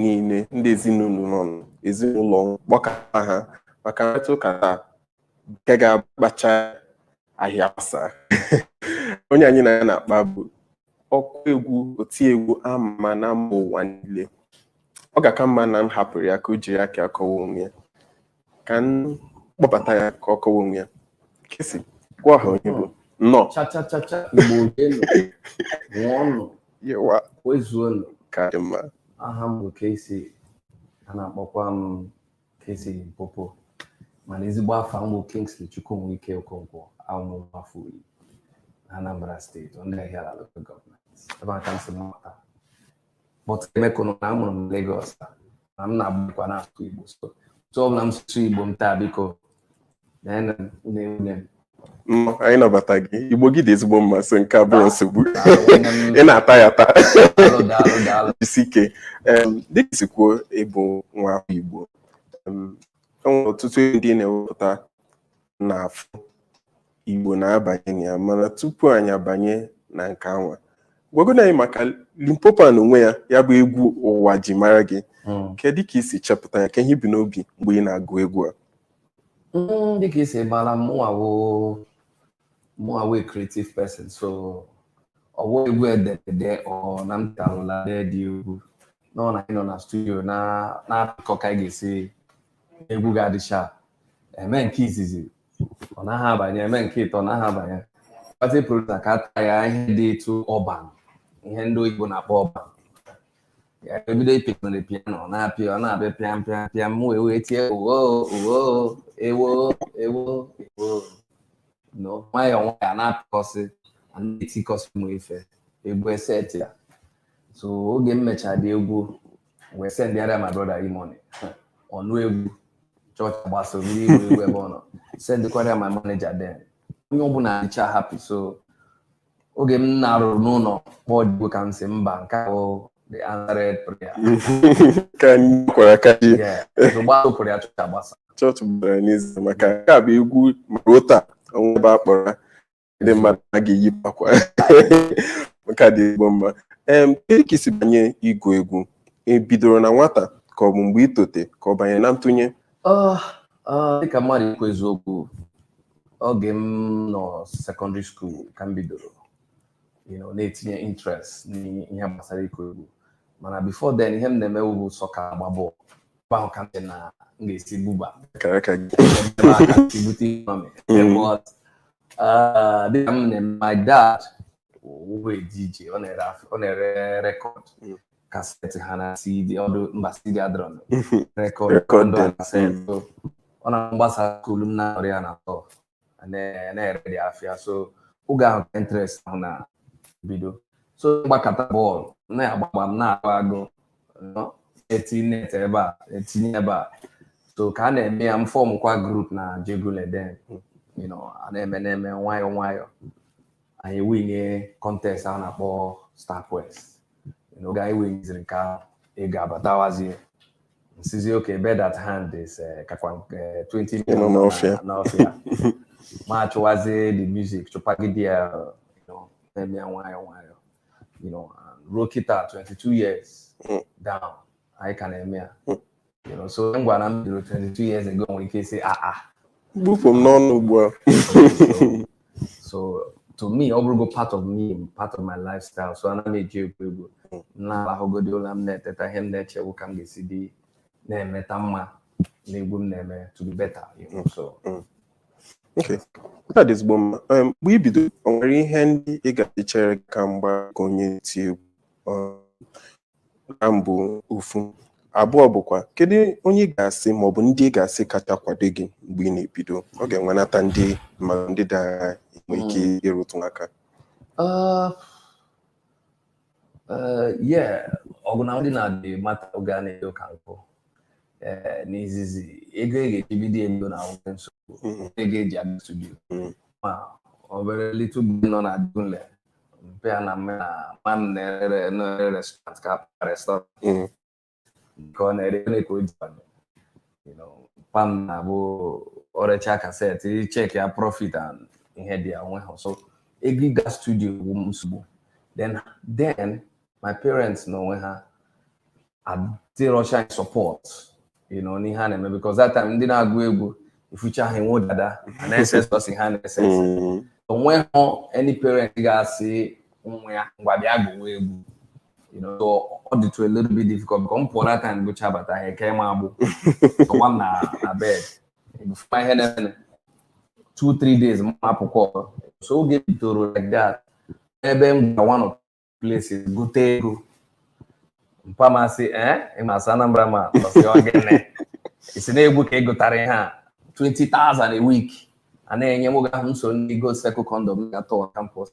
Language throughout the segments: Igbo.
niile ndị ezinụlọ nọ n'ezinụlọ kpọkọta ha maka mmetụ ụka taa nke ga-agbacha ahịa asa onye anyị na ya na-akpa bụ ọkụ egwu otiegwu ama ama na mba ụwa niile ọ ga-aka mma na m hapụrụ ya ka o jiri aka ya kọwaa onwe ya ka m kpọbata ya ka ọ kọwa onwe ya Kcee gwa ha onye ị bụ nnọọ cha cha cha cha igbo kwenu ṅụọnụ yewa kwezuonụ ka dị mma aha m bụ Kcee a na-akpọkwa m Kcee Limpopo mana ezigbo afa m bụ Kingsley Chukwunweike Okonkwo abụ m nwa afọ Uli na Anambra steeti n'Ihiala local gọọmenti ebe a ka m si pụta but ị makwanụ na a mụrụ m na Lagos na m na-agbakwa na-asụ Igbo so otu ọbụla m si sụọ Igbo m taa biko na-ene m une une m Nnọọ, anyị nabata gị igbo gị dị ezigbo mma so nke a abụrọ nsogbu ị na-ata ya ata daalụ daalụ daalụ jisi ike Em, dịka i si kwuo ị bụ nwa afọ igbo em, e nwere ọtụtụ ihe ndị ị na-ewepụta na-afụ Igbo na-abanye na ya mana tupu anyị abanye na nke anwa gwagodo anyị maka Limpopo na onwe ya ya bụ egwu ụwa ji mara gị hmm. kedu ka i si chepụta ya kee ihe i bu n'obi mgbe ị na-agụ egwu a hmm, dịka i si mara mụnwa wụ creative person so ọ wụ egwu e dere ede ọ na m tarụla the egwu nọ na anyị nọ na studio na-akọ ka anyị ga-esi egwu ga-adị sharp e mee nke izizi ọ naghị abanye e mee nke ịtọ ọ naghị abanye but produsa ka ata ya ihe dị etu urban ihe ndị oyibo na-akpọ urban ya ebido ịpịnere piano ọ na-apịa ọ na-abịa pịam pịam pịam m wee wee tie uwo uwo ewo ewo ewo no nwayọọ nwayọọ a na-apịkọsị a na-etikọsị ụmụ ife egwu eset ya so oge m mechara the egwu wee sendara ya my brother E-Money ọ nụ egwu chọọchị agbasa mmiri iwe iwe ebe ọ nọ sendịkwara ya my manager then onye ọbụla dịcha happy so oge m na-eruru n'ụlọ kpọọ the egwu ka m sị mba nke a wụ the answered prayer ka kwara aka ji gbasa ụkwụrụ ya chọọchị agbasa chọọchị gbara n'izu maka nke a bụ egwu ma ruo taa o nwee ebe a kpọrọ ndị mmadụ a ga-eyipụ akwa nke a dị ezigbo mma em kedu ka i si banye ịgụ egwu ị bidoro na nwata ka ọ bụ mgbe ị tote ka ọ banye na ntụnye Ah, ah, dịka mmadụ ikwu eziokwu oge m nọ sekọndịrị skuul ka m bidoro you know, na-etinye interest n'ihe gbasara ịgụ egwu mana before then ihe m na-emewu bụ soccer ịgba bọọlụ ebe ahụ ka m sị na m ga-esi buba ka ka gị ebe ahụ ka m si bute ihe ọmị Mm. But, ah, dịka m na my dad wụ a DJ ọ na-ere af- ọ na-ere rekọd Mm. kaseti ha na CD ọdụ mba CD adịrọ na rekọd Record ndụ a them, kaseti. So, ọ na m gbasaa skuul m na-anọrị ya na tọ na-ere dị afịa so oge ahụ ka interest ahụ na bido so gbakata bọọlụ na-agbagba m na-agụ agụ etinye ebe a etinye ebe a so ka a na-eme ya m fọmkwa grup na Ajegunle then a na-eme na-eme nwayọọ nwayọọ anyị ewinie kọntest a na-akpọ star quest oge anyị winiziri nke ahụ ego abatawazie m sịzie okay bird at hand is eh, kakwa eh, 20 Ịnọ million n'ọfịa. na- n'ọfịa mụ achụwazie the music chụpagide ya you know, na-eme ya nwayọ nwayọ you know, and ruo kịta 22 years Mm. down anyị ka na-eme ya Mm. you know, so ngwa na m bidoro 22 years ago nwere ike isi ah ah Gbupụ m n'ọnụ ugbu a. so to me ọ bụrụgo part of me part of my lifestyle so ana m eji egwu egwu m na-alahụgodi ụla m na-eteta ihe m na-eche wụ ka m ga-esi dị na-emeta mma na egwu m na-eme to be better you know, so Okay. Nke a dị ezigbo mma. Um, Mgbe i bido, o nwere ihe ndị ị ga-asị chere gị aka mgba ka onye eti egwu? Um, na mbụ ofu abụọ bụkwa kedu onye ị ga-asị ma ọ bụ ndị ị ga-asị kacha kwado gị mgbe ị na-ebido ọ ga-enwenata ndị ma ndị ị ga-enwe ike ịrụtụ aka Uh, uh, yeah, ọgụ na ndị na-adị mata oge a na-edo ka nkụ Eh, n'izizi ego e ga-eji bido ego na nwoke nsogbu Mm, ego eji abịa studio mm, ma obere little boy nọ na Ajegunle bịa na mama m na-ere restaurant ka akpa restaurant mm. ka ọ na-ere ere ka o ji papa m na-abụ o rechaa kaset ị chek ya profit and ihe dị ya nwe ha so ego ịga studio bụ nsogbu then then my parents na onwe ha adịrọcha support you know n'ihe a na-eme because that time ndị na-agụ egwu ị fụcha ha enwe dada na-ese sọsị ha na-ese ese mm. onweghị any parent ga-asị nwa ya ngwa bịa gụwa egwu you know so ọ dịtụ a little bit difficult because m pụọ na time gụcha bata ha eke m agbụ ọwa m na na bed before m ama ihe na-eme two three days m apụkwa so oge bidoro like that ebe m gwa one of places gụte ego mpa m asị ee eh, ị masị Anambra ma ọ sị ọ gịnị ị sị na egwu ka ị gụtara ihe a 20,000 a week a na-enye m oge ahụ m so ndị Gold Circle condom gaa tour campus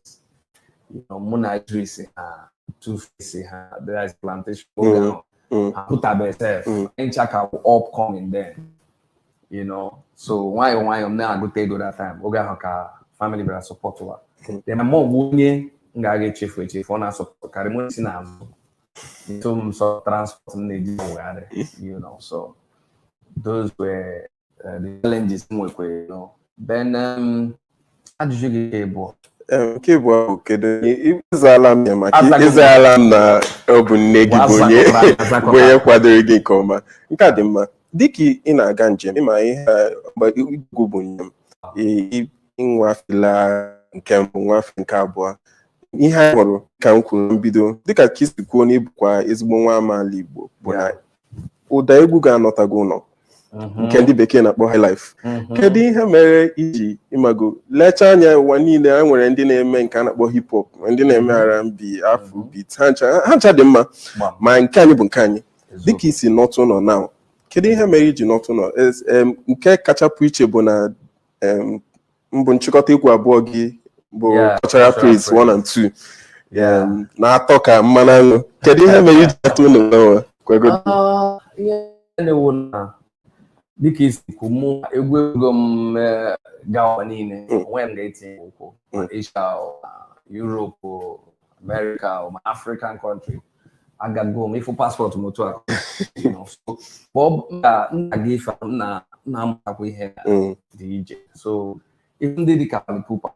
mụ na Idris ha two face ha dịrị plantation oge mm, ahụ mm. ha apụtabe sef ncha ka bụ upcoming then you know so nwayọọ nwayọọ m na-agụta ego that time oge ahụ ka family bịara supportwa m hmm. then my mom onye m ga-aga echefu echefu ọ na-asupportkarị m si n'azụ nso m sọ transport m na-eji wegharị you know so those were uh, the challenges m nwekwa you know then um, ajụjụ nke abụọ nke bụ ahụ kedu ị zaala m ya maka ị zaala m na ọ bụ nne gị bụ onye bụ onye kwadoro gị nke ọma nke a dị mma dịka ị na-aga njem ị ma ihe egwu bụ njem ị wafela nke mbụ wafe nke abụọ ihe anyị hụrụ ka m kwuru mbido dịka ka i si kwuo na ị bụkwa ezigbo nwa amaala Igbo bụ na ụda egwu ga-anọta gị ụlọ mhm. nke ndị bekee na-akpọ highlife mhm. kedu ihe mere i ji ị mago lecha anya ụwa niile a nwere ndị na-eme nke a na-akpọ hip hop ndị na-eme mhm. R&B afrobeat ha ncha dị mma ma nke anyị bụ nke anyị dịka i si nọta ụlọ na kedu ihe mere i ji nọta ụlọ nke kacha pụ iche bụ na mbụ nchịkọta egwu abụọ gị bụ Yeah, cultural cultural praise praise. one and two Yeah. Um, na-atọ ka mmanụ aṅụ kedu ihe mere i ji nata ụnọ gbanwe kwego Ah, ihe na-ewu na dịka i si kwu mụ egwu ewego m eh, gaa ụwa niile Mm. o nwe nga m etinye ụkwụ Mm. Asia Europe America o ma African country agago m ị fụ paspọtụ m otu a ka m na-aga ife m na-amatakwa ihe mm. dị iche so ife ndị dịka Fally Ipupa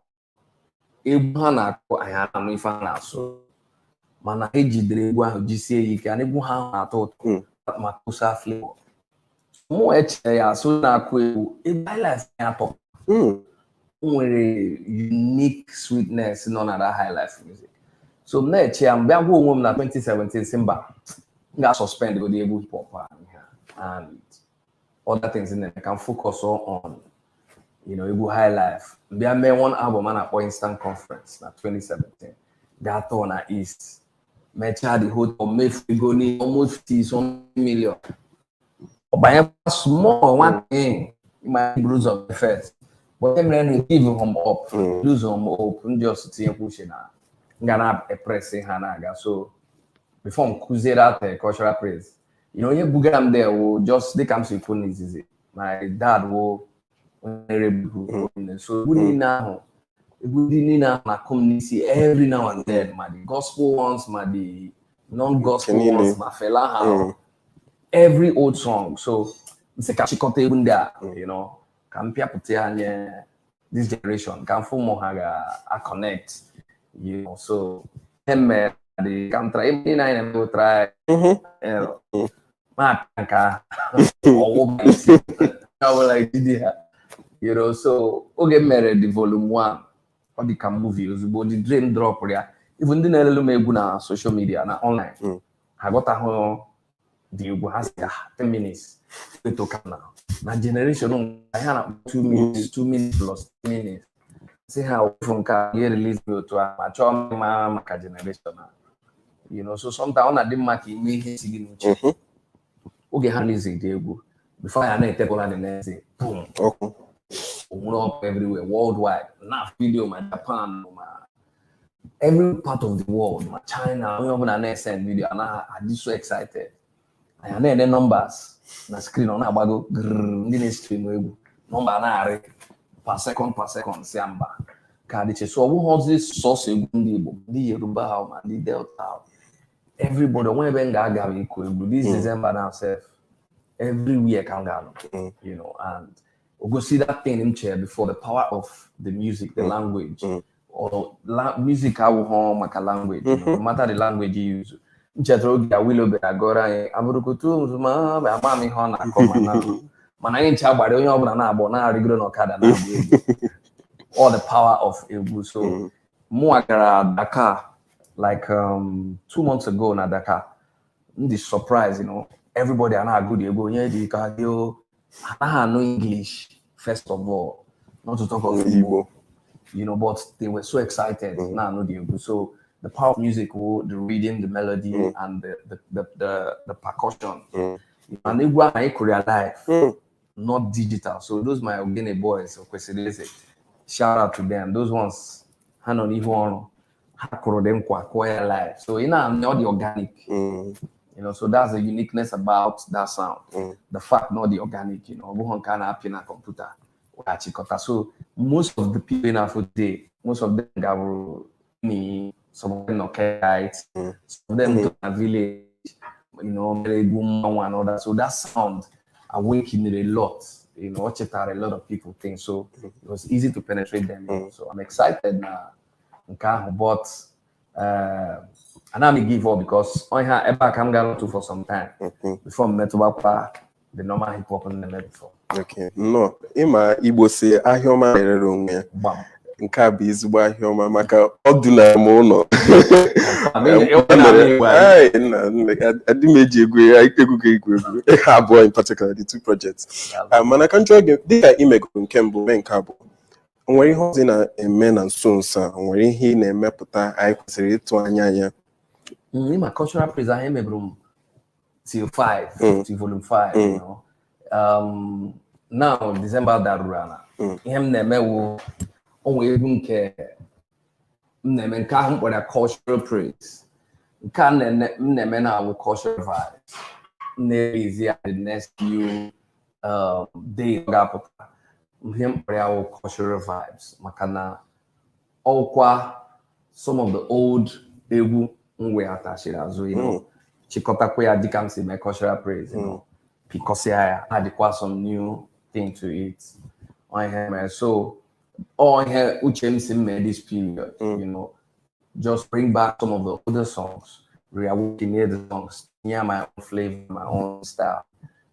egwu ha na-akụ anyị anụ ife ha na-asụ mana e jidere egwu ahụ jisie ya ike na egwu ha na-atọ ụtọ mm. makossa flavor mụ echee ya sị a na-akụ egwu egwu highlife ya atọ hmm. o nwere unique sweetness nọ na that highlife music so m na-eche ya m bịa gwa onwe m na 2017 sị mba m ga-suspend godi egwu hip hop and other things in there ka m focus on you know, egwu high life m bịa mee one album a na-akpọ Eastern Conference na 2017 gaa tour na east mechaa the whole thing mefu ego ni almost some million ọ banyekwa small one thing ma buru ụzọ first but emere na give up Mm. lose hope m just tinyekwa uche na nga na-apress ya na-aga so before m kụzie that cultural praise you know onye bugara m there wụ just dịka m si kwu n'izizi my dad wụ onye na-erebu so egwu niile ahụ ndị niile a na-akụ m n'isi every now and then ma the gospel ones ma the non-gospel ones ma Fela ha mm. every old song so m sị ka m chịkọta egwu ndị a mm. you know ka m pịapụta ya nye this generation ka m fụ ma ha ga-aconnect you know so eme dị ka m tara ebe niile anyị na-eme try na-apịa nke ahụ ọbụla ejide ha you know so oge m mere the volume 1 ọ dị ka movie ozugbo the dream drop ya even ndị na-elelu m egwu na social media na online hmm. ha aghọtahụ the egwu ha sị ah, ten minutes etoka na na generation a na-akpọ two minutes two minutes plus minutes sị ha hafụ nke a ihe release me otu ahụ achọọ m ịmara maka generation a you know so sometimes ọ na-adị mma ka i mee ihe si gị n'uche mhm. oge ha release the egwu before ya na-etekwala the next day boom o nwere ọkụ everywhere worldwide na video ma Japan ma every part of the world ma China onye ọbụla na-esend video na ha dị so excited anyị na-ene numbers na screen ọ na-agbago ndị na-estream egwu number na-arị per second per second sị mba nke a dị iche so ọ bụghịzi sọsọ egwu ndị Igbo ndị Yoruba ahụ ma ndị Delta ahụ everybody o nwe ebe m ga-agara ịkụ egwu this hmm. December na sef everywhere ka m ga-anọ hmm. you know and o gosi that thing m chere before the power of the music the hmm. language music awụghọ maka language mm-hmm. no matter the language you use m chetara oge Awilo bịara gụọrọ anyị abụrụkutu ma ama m ihe ọ na-akọ mana mana anyị ncha agbara onye ọbụla na-agba na-arịgoro n'ọkada na-agba egwu all the power of egwu so mm-hmm. mụnwa gara Dakar like um, two months ago na Dakar m dị surprise you know everybody a na-agụ the egwu onye dị ka dị o ha anaghị anụ English first of all not to talk of Igbo Igbo. you know but they were so excited Mhm. na-anụ the egwu so the power of music wụ the rhythm the melody Mhm. and the the the the, the percussion Mhm. and egwu ahụ anyị kụrụ ya live Mm. not digital. So those my Ogene boys, Okwesili Eze, shout out to them. Those ones, hand on even ha kụrụ the nkwa kụọ ya live so ị na-anụ ọ dị organic mm. you know so that's the uniqueness about that sound mm. the fact na ọ dị organic you know ọ bụghị nke a na-apị na computer wee chịkọta so most of the people in abroad most of them gabụrụ ni some of them nọkelites mm. some of them mm. toro na village you know mere egwu mmanwụ and all that so that sound awakened a lot you know, o cheta a lot of people things. So it was easy to penetrate them. Mm. So I'm excited now. nke ahụ but eh, ana m give up because ọhịa ebe a ka m gara otu for some time Okay. before m metụbakwa the normal hip hop m na-eme before Okay. Nnọọ. Ị ma Igbo sị ahịa ọma na-erere onwe ya. gbam Nke a bụ ezigbo ahịa ọma maka ọ dụnara m ụlọ. I mean, e- e- na-abịa igwe anyị. Ee, nna, nna, ad- adị m eji egwu ya, egwu gị egwu egwu. Ha abụọ in particular, the two projects. Ah, mana ka m jụọ gị dịka i megoro nke mbụ mee nke abụọ O nwere ihe ọzọ ị na-eme na nso nso a? O nwere ihe ị na-emepụta anyị kwesịrị ịtụ anya ya? Mm, ị ma cultural praise ahụ emeburu m till 5 Mm. till volume 5 Mm. you know. um, now December daruru ala Mm. ihe m na-eme wụ o nwere egwu nke m na-eme nke ahụ m kpọrọ ya cultural praise nke a na-ene- m na-eme now wụ cultural vibes m na-erelease ya the next few um, days ọ ga-apụta ihe m kpọrọ ya wụ cultural vibes maka na ọkwa some of the old egwu m weghachiri azụ you know, chịkọtakwa ya dịka m si mee cultural praise you know, pịkọsịa ya addịkwa some new thing to it Ọ ihe mere so ọ ihe uche m sị m mee this period you know just bring back some of the older songs reawaken the songs tinye my own flavor my own style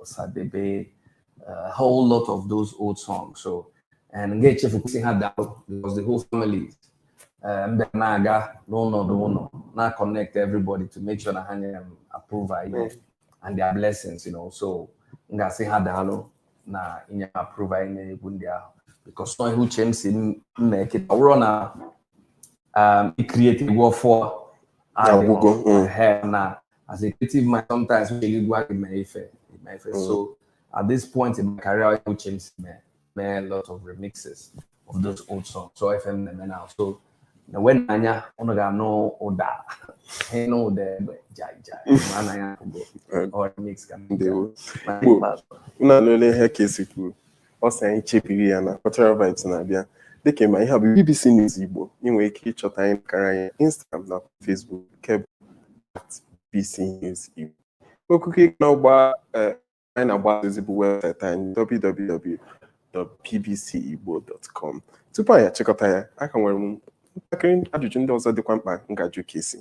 Osadebe, a whole lot of those old songs. So, and m gaghị echefukwa ịsị ha daalụ because the whole family um, then I got no, no, no, no. Now connect everybody to make sure that I am approved and their blessings, you know. So, m ga-asị ha daalụ na inye approve anyị n'egwu ndị ahụ because na ọ ihe uche m sị m mee kịta ọ bụrụ na um, i create egwu ọfụọ na as a creative mind sometimes we really want to make fair, make fair. Mm. So at this point in my career, I changed me, me a lot of remixes of those old songs. So I FM them now. So na when anya ono ga no oda, he no de jai jai. Mana ya go or mix can be. Na lele he kesi kuru. ọ sị anyị chebiri ya na Cultural Vibes na-abịa dịka ị ma ihe a bụ BBC News Igbo ị nwere ike ịchọta anyị n'akara anyị Instagram na Facebook nke bụ BBC News Igbo okuko ị na-agba eh, anyị na-agba ozi bụ webụsaịtị anyị www.bbcigbo.com tupu anyị achịkọta ya aka nwere m ntakịrị ajụjụ ndị ọzọ dịkwa mkpa m ga-ajụ Kcee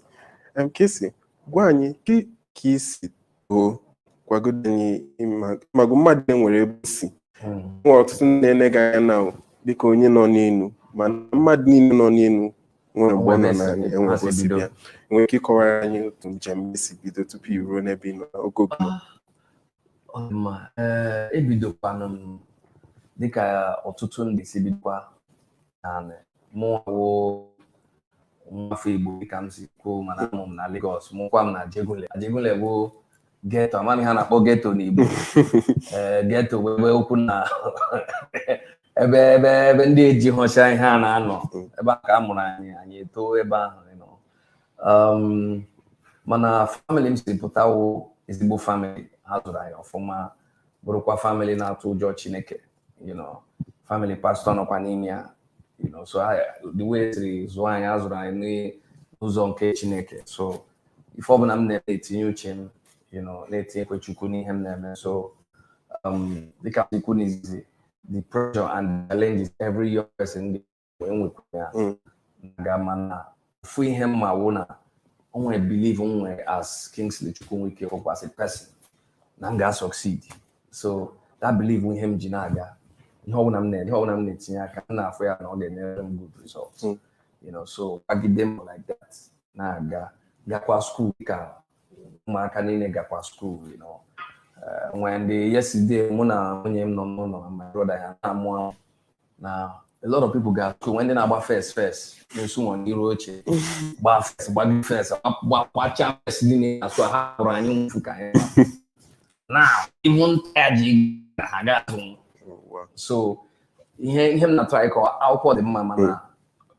Kcee gwa anyị ka i si bụ gwagodo anyị ị ma- ị mago mmadụ e nwere ebe o si Mm. nwere ọtụtụ ndị na-ele gị anya na dịka onye nọ n'elu mana mmadụ niile nọ n'elu nwere mgbe ọ nọ Nwere n'ala esi- enwere esi ebe o si bido. Ị nwere ike ịkọwara anyị otu njem gị si bido tupu i ruo n'ebe ị nọ oge oge Ọ dị mma. Ee, ebidokwanụ m dịka ọtụtụ ndị si bidokwa naanị mụ wụ nwafọ Igbo dịka m si kwuo mana a mụ m na Lagos mụkwa m na Ajegunle Ajegunle bụ geto amaghị m ihe a na-akpọ geto n'Igbo ee geto bụ ebe okwu na ebe ebe ebe ndị ejihụcha ihe na-anọ ebe a ka a mụrụ anyị anyị eto ebe ahụ you know. um, mana famili m si pụta wụ ezigbo famili ha zụrụ anyị ọfụma bụrụkwa famili na-atụ ụjọ Chineke you know family pastor nọkwa n'ime ya you know so I- the way e siri zụọ anyị a zụrụ anyị n'ụzọ nke chineke so ife ọbụla m na-eme etinye uche m you know na-etinyekwa chukwu n'ihe m na-eme so um, dịka i kwu n'izizi the pressure and the challenges every young person wee nwekwa ya mm. ga mana ofu ihe m ma wụ na o nwere believe m nwere as Kingsley Chukwunweike hope as a person na m ga-succeed so that believe ihe m ji na-aga ihe ọbụla m na ihe ọbụla m na-etinye aka m na-afụ ya na ọ ga-enyere m good result mm. you know so kwagide m like that na-aga gakwa skuul ka ụmụaka niile gakwa skuul you know eh, nwee ndị yesterday mụ na nwunye m nọ n'ụlọ na my brother ya na-amụ na a lot of people ga skuul nwe ndị na-agba first first na skuul nọwa n'iru oche gbaa first gbagide first gbachaa first niile na skuul ha hụrụ anyị nfu ka anyị na ihu nta ji na ha ga-azụ so ihe ihe m na-atry ịkọ akwụkwọ dị mma mana hmm.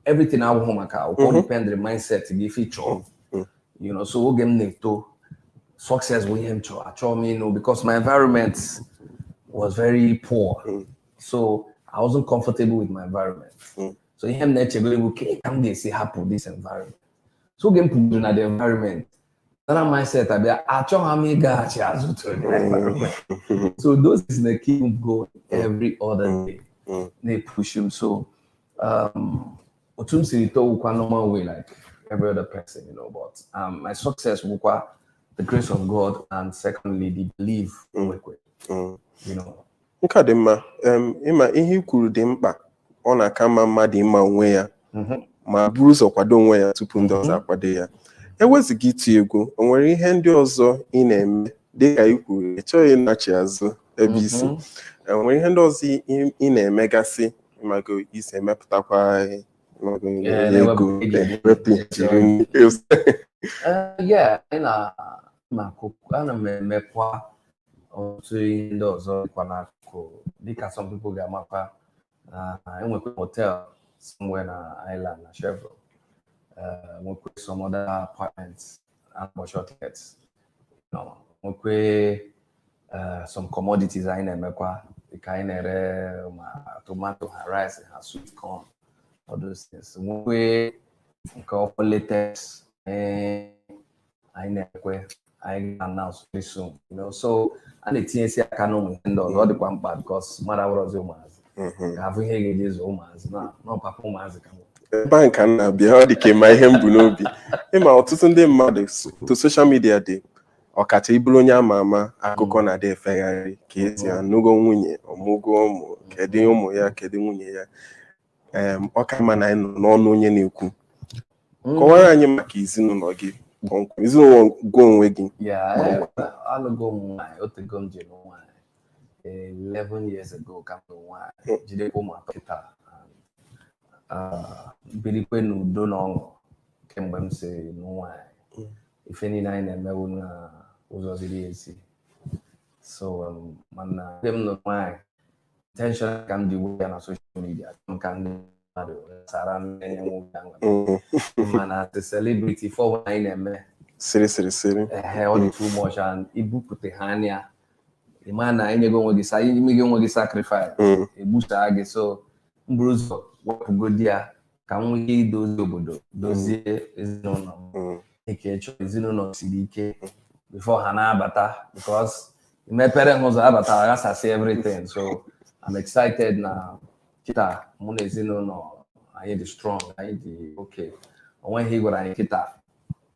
everything awụhụ maka akwụkwọ hmm. depend na mindset gị ife ị chọọ hmm. you know so oge m na-eto success bụ ihe m chọrọ achọ mm you know because my environment was very poor so I wasn't comfortable with my environment mm. so ihe m na-echebere bụ ka ka m ga-esi hapụ this environment so oge m pụgoro na the environment another mindset abịa achọghị m ịgaghachi azụ to the environment mm. so those things na-ekeep m going every other mm. day mm. na-epush m so um, otu m siri too wụkwa normal way like every other person you know but um, my success wụkwa the grace of God and secondly the belief mm. you know Nke a dị mma. Em, ị ma ihe i kwuru dị mkpa. Ọ na-aka mma mmadụ ịma onwe ya Mhm. ma buru ụzọ kwado onwe ya tupu ndị ọzọ akwado ya. E wezụga iti egwu, o nwere ihe ndị ọzọ ị na-eme dị ka i kwuru, ị chọghị ịnachi azụ ebe i si. Mhm. E nwere ihe ndị ọzọ ị- ị na-emegasị ị mago i si emepụtakwa ị mago Ee, ego na-ewepụ ego. ewepụ i ji eri nri. Eh, yeah, anyị na na-akụ ana m emekwa ọtụtụ ihe ndị ọzọ dịkwa n'akụkụ dịka some people ga-amakwa na enwekwa hotel somewhere na Island na Chevron uh, nwekwe some other apartments and shortlets nwekwe uh, some commodities anyị na-emekwa dịka anyị na-ere ma tomato ha rice ha sweet corn all those things nwekwe nke ọkwa latest eh, anyị na-ekwe anyị na-announce very soon you know so a na-etinyesi aka n'ụmụ ihe ndị ọzọ ọ dịkwa mkpa because mmadụ awụrọzi ụmụazị mm-hmm. ka a hụ ihe ga-eji azụ ụmụazị na ọpapa ụmụazị ka ebe ahụ ka m na-abịa ọ dị ka ị ma ihe m bu n'obi ị ma ọtụtụ ndị mmadụ otu social media dị ọkacha ị bụrụ onye ama ama akụkọ mm. na-adị efegharị Kcee mm. anụgo nwunye ọmụgo ụmụ kedu ụmụ ya kedu nwunye ya ọ ka mma na anyị nụ n'ọnụ onye na-ekwu mm. kọwaara anyị maka ezinụlọ gị kpọmkwem ezinụlọ gị onwe gị alụgo m nwaanyị otego m ji nụ nwaanyị 11 years ago ka m nụ nwaanyị hmm. jidekwa ụmụ atọ kịta ah, birikwe n'udo na ọṅụ kemgbe m si nụ nwaanyị hmm. ife niile anyị na-eme wụ na ụzọ ziri ezi so um, mana m nụrụ nwaanyị intentional ka m ji wepụ ya na social media ka ndị mmadụ sara mmiri nwoke ahụ Mm. mana the celebrity fọwọ anyị na-eme Siri siri siri. ehe ọ dị too much and i bupụta ha n'anya ị ma na i nyego onwe gị sa i mego onwe gị sacrifice Mm. egbusaa gị so m buru ụzọ wepụgodi ya ka m nwee ike idozi obodo dozie ezinụlọ m Mm. kechie ezinụlọ siri ike before ha na-abata because i mepere ha ụzọ abata aghasasị everything so I'm excited na kịta mụ na ezinụlọ anyị dị strong anyị dị okay o nweghị ihe ị gwara anyị kịta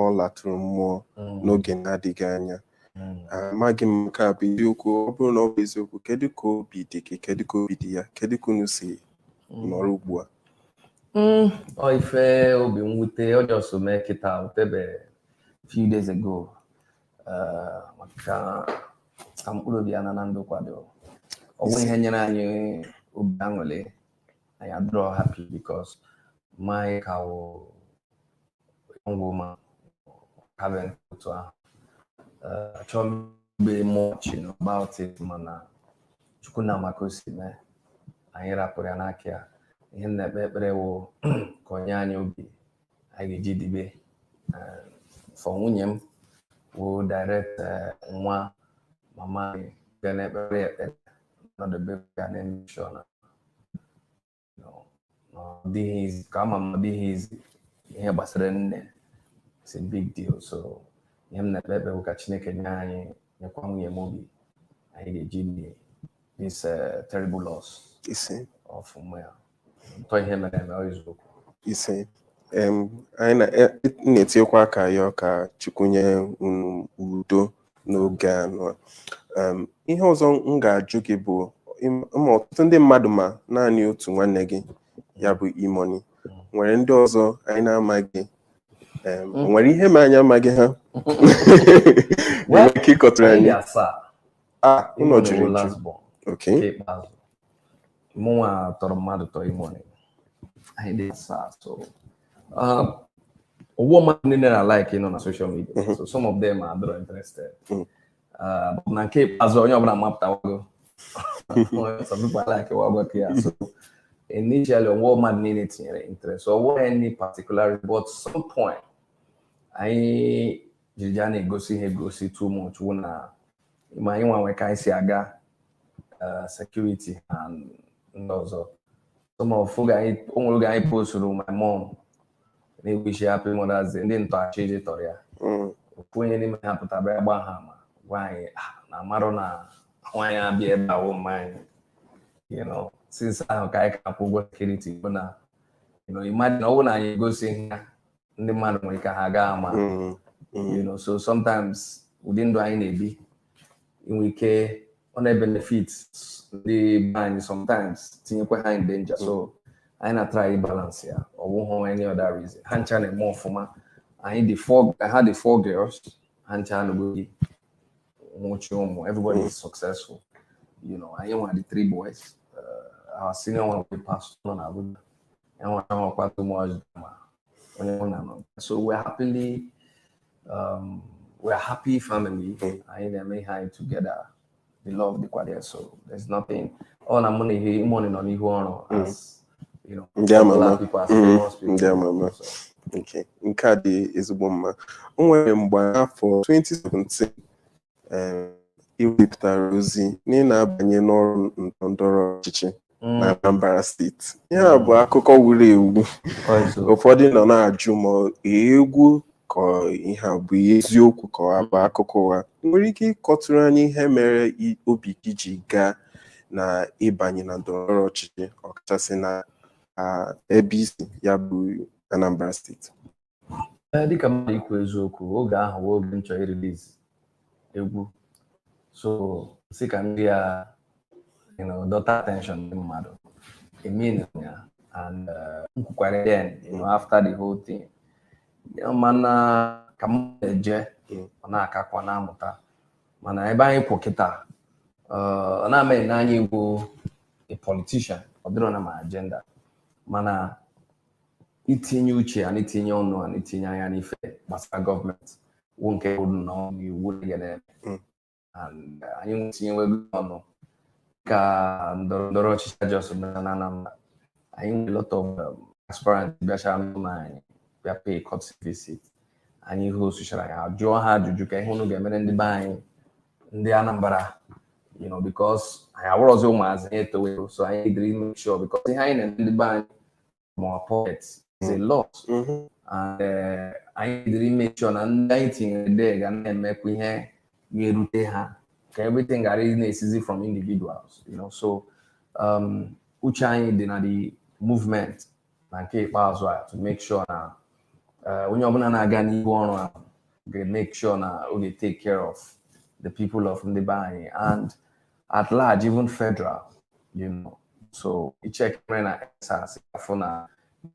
ọ lara mmụọ mm. n'oge na-adịghị anya mm. amaghị m nke a bụ eziokwu ọ bụrụ na ọ bụ eziokwu kedu ka obi dị gị kedu ka obi dị ya kedu ka unu si mm. nọrọ ugbu a ọ ife obi mwute ọ just mee kịta otebe few days ago maka ka mkpụrụ obi ya naa na ndokwa ọ wụrọ ihe nyere anyị obi aṅụrị anyị adịrọ happy because maka ọ young woman having to her. Uh, Chom be much you know, about it, mana. Chukwu ma ka o si mee anyị rapụrụ ya n'aka ya ihe m na-ekpe ekpere wụ ka o nye anyị obi anyị ga-eji dibe Eh, for nwunye m wụ direct eh, nwa mama anyị ga na-ekpere ya ekpere nọdebe ya na-eme sure na ọdịghịzi ka ama m ọdịghịzi ihe gbasara nne it's a big deal so ihe m na-ekpe ekpe bụ ka Chineke nye anyị nyekwa nwunye m obi anyị ga-eji edi this uh, terrible loss ise of nwa ya ntọ ihe mere eme ọ eziokwu ise em anyị na- e- na-etinyekwa aka yọọ ka Chukwu nye unu udo n'oge a nụa. Em, ihe ọzọ m ga-ajụ gị bụ im- ma ọtụtụ ndị mmadụ ma naanị otu nwanne gị ya bụ E-Money nwere ndị ọzọ anyị na-amaghị em, o nwere ihe mere anyị amaghị ha ị nwere ike ịkọtụrụ anyị asaa a ụlọ juru eju okay ikpeazụ mụnwa tọrọ mmadụ tọrọ E-Money anyị dị asaa so um, ọ wụghị mmadụ niile na-alike ịnọ na social media mm-hmm. so some of them are not interested mm. uh, na nke ikpeazụ onye ọbụla mapụtawago some people likewagokwa ya so initially ọ wụghị mmadụ niile tinyere interest so ọ wụghị any particular but some point anyị jiri ya na-egosi ha egosi too much wụ na ma anyị nwanwe ka anyị si aga uh, security na ndị ọzọ some of oge anyị o nwere oge anyị posturu my mom na-ewishi happy mothers day ndị ntọ achọọ ije tọrọ ya mm. ofu onye n'ime ha pụtara bịa gbaa ha ama gwa anyị ah, na a marụ na nwaanyị a bi ebe a wụ mma anyị you know since ahụ ka anyị ka akwụ ụgwọ security bụ na you know imagine ọ bụrụ na anyị egosighị ha ndị mmadụ nwere ike ha agaghị ama mm, mm. you know so sometimes ụdị ndụ anyị na-ebi nwere ike ọ na-ebenefit ndị be anyị sometimes tinyekwa ha in danger so anyị na-atrai balance ya ọ bụghị any other reason ha ncha na-eme ọfụma anyị dị four ha dị four girls ha ncha anụgo di nwechaa ụmụ everybody is successful you know anyị nwa dị three boys uh, our senior one wụ pastor na Abuja enwere ahụ kpatụ mụ ọjị ma onye mụ na nọ so we're happily um, we're happy family anyị na-eme ihe anyị together the love dịkwa there so there's nothing ọ na mụ na E-Money nọ n'ihu ọrụ as you know, ndị ama ama people as mm-hmm. famous people. ndị ama ama okay nke a dị ezigbo mma o nwere mgbe afọ 2017 um, i wepụtara ozi na ị na-abanye n'ọrụ ndọrọ ndọrọ ọchịchị mm. na Anambra steeti ya bụ mm. akụkọ wuru ewu ụfọdụ nọ na-ajụ ma egwu ka ihe a bụ ihe eziokwu ka ọ bụ akụkọ ụgha ị nwere ike ịkọtụrụ anyị ihe mere i- obi gị ji gaa na ịbanye na ndọrọndọrọ ọchịchị ọkachasị na ah, ebe i si ya bụ Anambra steeti Ee, dịka mmadụ ikwu eziokwu oge ahụ wụ oge m chọrọ irelease egwu so si ka ndị ya you know, dọta attention ndị mmadụ emin ya and uh, m kwukwara then you know, after the whole thing Ya mana ka m na-eje ọ na-akakwa na-amụta mana ebe anyị kwụ kịta uh, ana m ene anya ịbụ a politician ọ dịrọ na my agenda mana itinye uche and itinye ọnụ and itinye anya n'ife gbasara government wụ nke mbụ nnọọ n'ihe anyị na-eme Mm. And, uh, anyị etinyewego ọnụ ka ndọrọ ndọrọ ọchịchị e just mere na Anambra anyị nwere lot of um, aspirant bịachara n'ụlọ anyị bịa pay courtesy visit anyị hostchara ya jụọ ha ajụjụ kee ihe unu ga-emere ndị be anyị ndị Anambra you know because anyị awụrọzi ụmụazị anyị etowe so anyị needịrị make sure because ihe anyị na-eme ndị be anyị from our pocket is a mm. lot mm-hmm. and eh, anyị needịrị ịmake sure na ndị anyị tinyere there ga na-emekwa ihe ga-erute ha ka everything ghara ịna-esizi from individuals you know so um, uche anyị dị na the movement na nke ikpeazụ a to make sure na eh, onye ọbụla na-aga n'ihu ọrụ a ga-make sure na ọ ga-take care of the people of ndị be anyị and at large even federal you know so i check ihe mere na End SARS a fụ na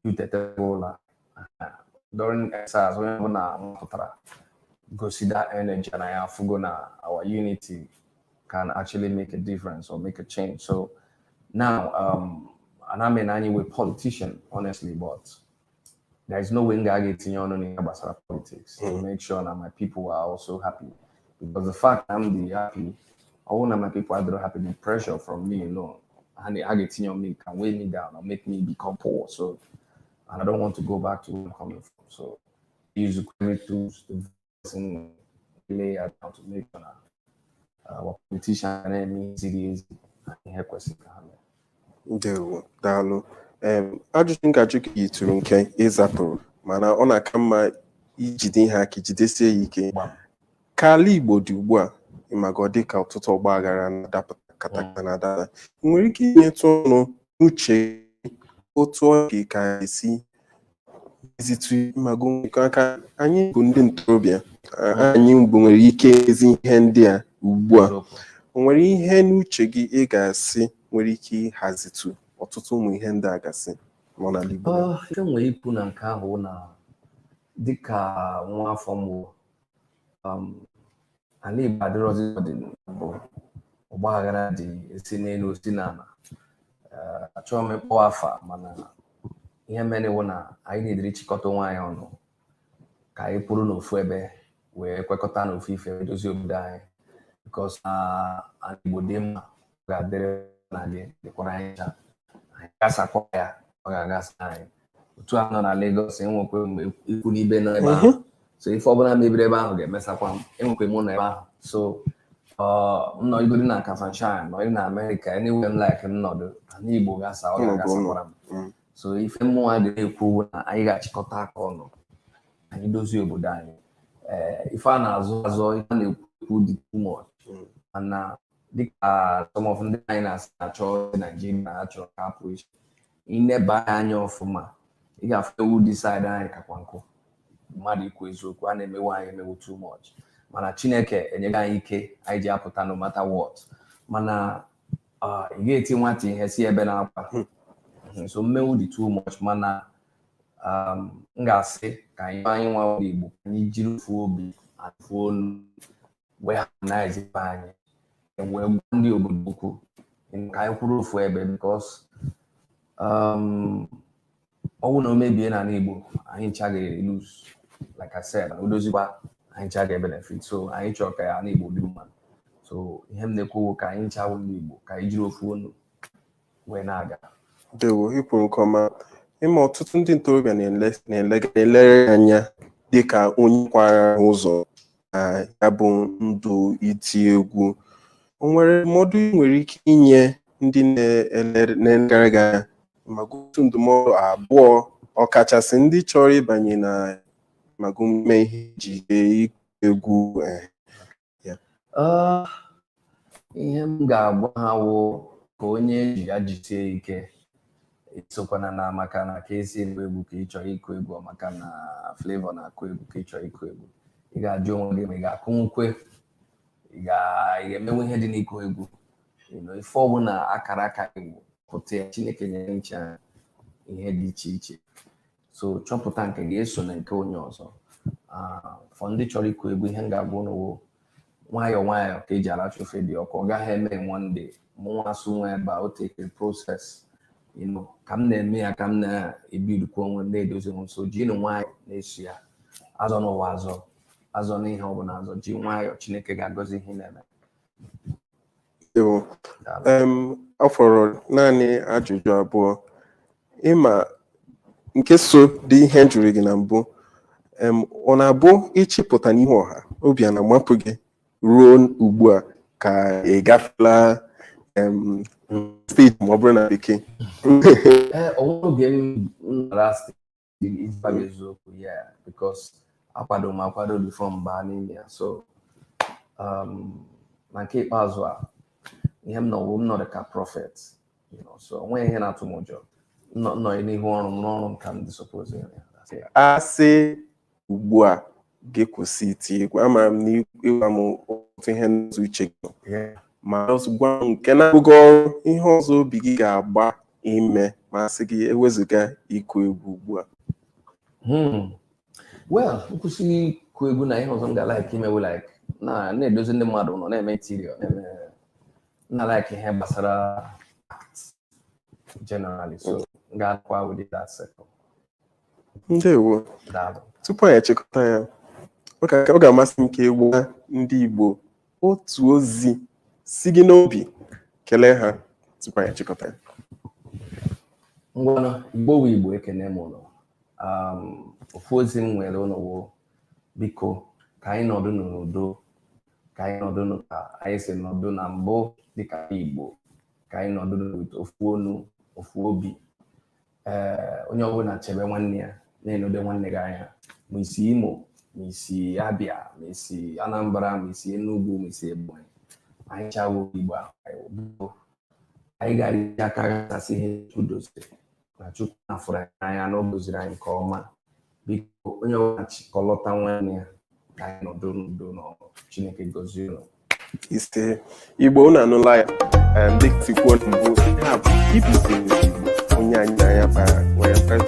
youth etetego ụla during End SARS onye ọbụla mapụtara gosi that energy na anyị afụgo na our unity can actually make a difference or make a change so now um, ana m ene anya ịwụ politician honestly but there is no way m ga-aga etinye ọnụ n'ihe gbasara politics to make sure na my people are also happy because the fact na m dị happy ọwụ na my people adịrọ happy the pressure from me alone ha na- ha ga-etinye on me can weigh me down or make me become poor so and I don't want to go back to where I'm coming from so use the tools to personally I want to make sure that our uh, politician na-eme ihe ziri ezi na ihe kwesịrị ka ha mee. Ndewo, daalụ. Ajụjụ m ga-ajụ gị yitụrụ nke ị zaburu mana ọ na-aka mma ijide ihe aka jidesie ya ike. Ka ala Igbo dị ugbu a ị maga ọ dị ka ọtụtụ ọgba aghara na-adapụta katakata na-ada ada nwere ike inyetụ ọnụ n'uche otu ọ dị ka anyị si ezitụ ma gụnwekọ aka anyị bụ ndị ntorobịa anyị bụ nwere ike ezi ihe ndị a ugbu a o nwere ihe n'uche gị ị ga-asị nwere ike ịhazitụ ọtụtụ ụmụ ihe ndị a gasị nọ n'ala Igbo Ah, ihe m nwere ikwu na nke ahụ na dịka nwa afọ m bụ um, ana Igbo adịrọzi ọ dị na mbụ ọgba aghara dị e si n'enu e si n'ana eh, achọghị m ịkpọ afa mana ihe mere wụ na anyị needịrị ịchịkọta onwe anyị ọnụ ka anyị kwụrụ n'ofu ebe wee kwekọta n'ofu ife dozie obodo anyị because na ana Igbo dị mma ga-adịrị na gị dịkwara anyị ncha anyị gasakwa ya ọ ga-agasa anyị otu a nọ na Lagos enwekwe m ikwu na ibe nọ ebe ahụ mhm. so ife ọbụla mebiri ebe ahụ ga-emesakwa m enwekwe m ụlọ ebe ahụ so m nọgodi na Kafanchan nọ na Amerịka enyewe m like m nọdụ ala Igbo gasa ọ ga-agasakwara m mm. so ife mụwa ga-ekwu na anyị ga-achịkọta aka ọnụ anyị dozie obodo anyị eh, ife a na-azọ azọ ife a na-ekwu ekwu dị too much mm. mana dịka some of ndị anyị na-asị achọ ndị Naijiria achọrọ ka a pụ iche i neba anya ọfụma ị ga-afụ ewu dị side anyị kakwa nkụ mmadụ ikwu eziokwu a na-emewu anyị emewu too much mana Chineke enyego anyị ike anyị ji apụta no matter what mana ah, ị ga-eti nwata ihe sị ebena akwa hmm. so mmewu dị too much mana um, m ga-asị ka anyị anyị nwa Igbo ka anyị jiri ofu obi ofu olu wee ha na ezigbo anyị wee gwa ndị obodo ukwu ka anyị kwụrụ ofu ebe because um, ọ wụ na o mebie n'ala Igbo anyị ncha ga-lose like I said o dozikwa anyị ncha ga-benefit so anyị chọrọ ka ala Igbo dị mma so ihe m na-ekwu ka anyị ncha wụ ndị Igbo ka anyị jiri ofu onu wee na-aga dewo i kwuru nke ọma ị ma ọtụtụ ndị ntorobịa na-ele gị anya dịka onye kwara ụzọ na ya bụ ndụ iti egwu o nwere ndụmọdụ ị nwere ike inye ndị na-ele- na-elegara gị anya ma ọ bụ otu ndụmọdụ abụọ ọkachasị ndị chọrọ ịbanye na ma ọ bụ ime ihe iji egwu eh, Ah, ihe m ga-agwa ha wụ ka onye ji ya jisie ike esokwana na maka na Kcee na-akụ egwu ka ị chọrọ ịkụ egwu ọ maka na Flavour na-akụ egwu ka ị chọrọ ịkụ egwu ị ga-ajụ onwe gị ma ị ga-akụnwukwe ị ga- ị ga-emenwu ihe dị n'ịkụ egwu You know, ife ọbụla akara aka gị gwupụta ya Chineke nyere anyị ncha ihe dị iche iche so chọpụta nke gị esona nke onye ọzọ Ah, for ndị chọrọ ịkụ egwu ihe m ga-agwa unu wụ nwayọọ nwayọọ ka e ji aracha ofe dị ọkụ ọ gaghị eme in one day mụnwa asụ nwa ebe a o takere process you know, ka m na-eme ya ka m na-ebuildikwa onwe m na-edozi onwe m so jinu nwayọọ na-eso ya azọna ụwa azọ azọna ihe ọ bụla azọ ji nwayọọ Chineke ga-agọzi ihe ị na-eme Dewo. Em, ọ fọrọ naanị ajụjụ abụọ ị ma nke so dị ihe m jụrụ gị na mbụ em, ọ na-abụ ị chọ ịpụta n'ihu ọha obi a na-amapụ gị ruo ugbu a ka ị gafela em, stage ma ọ bụrụ na bekee Ee, o nwere oge m m nara stage ịgwa gị eziokwu ya because akwado m akwado before m baa n'ime ya so um, na nke ikpeazụ a ihe m nọ wụ m nọ dịka prophet so onweghị ihe na-atụ m ụjọ nọ n'ihu ọrụ m n'ọrụ m ka m dị suppose asị ugbu a gị kwụsị iti egwu ama m na ịgwa m otu ihe n'otu uche gị ma gwa m nke na-agụ gị agụụ ihe ọzọ obi gị ga-agba ime ma sị gị ewezụga ịkụ egwu ugbu a hmm. well m kwụsị ịkụ egwu na ihe ọzọ m ga-alike ime wụ like na-edozi ndị mmadụ ụnọ na-eme interior na-eme na like ihe gbasara generally so m ga-akwa ụdị that circle ndewo daalụ tupu anyị achịkọta ya ọ ga- ọ ga-amasị m ka ị gwa ndị Igbo otu ozi si gị n'obi kelee ha tupu anyị achịkọta ya ngwanụ igbo wụ igbo ekene m unu um, ofu ozi m nweere unu wụ biko ka anyị nọdụ n'udo ka anyị nọdụ nụ ka anyị si nọdụ na mbụ dịka ndị igbo ka anyị nọdụ n'otu ofu ọnụ ofu obi ee onye ọbụla chebe nwanne ya na-enedo nwanne gị anya ma i si imo ma i si abịa ma i si anambra ma i si enugwu ma i si ebonyi anyị ncha wụ igbo anyị gara aka gbasasị ihe o doziri na Chukwu nna fụrụ anyị n'anya na ọ gọziri anyị nke ọma biko onye ọbụla chịkọlọta nwanne ya ka anyị nọdụ n'udo na ọṅụ Chineke gọzie unu ise igbo unu anụla ya em, dịka m si kwuo na mbụ ihe a bụ BBC Igbo onye anyị na ya kpara nwere mkparịta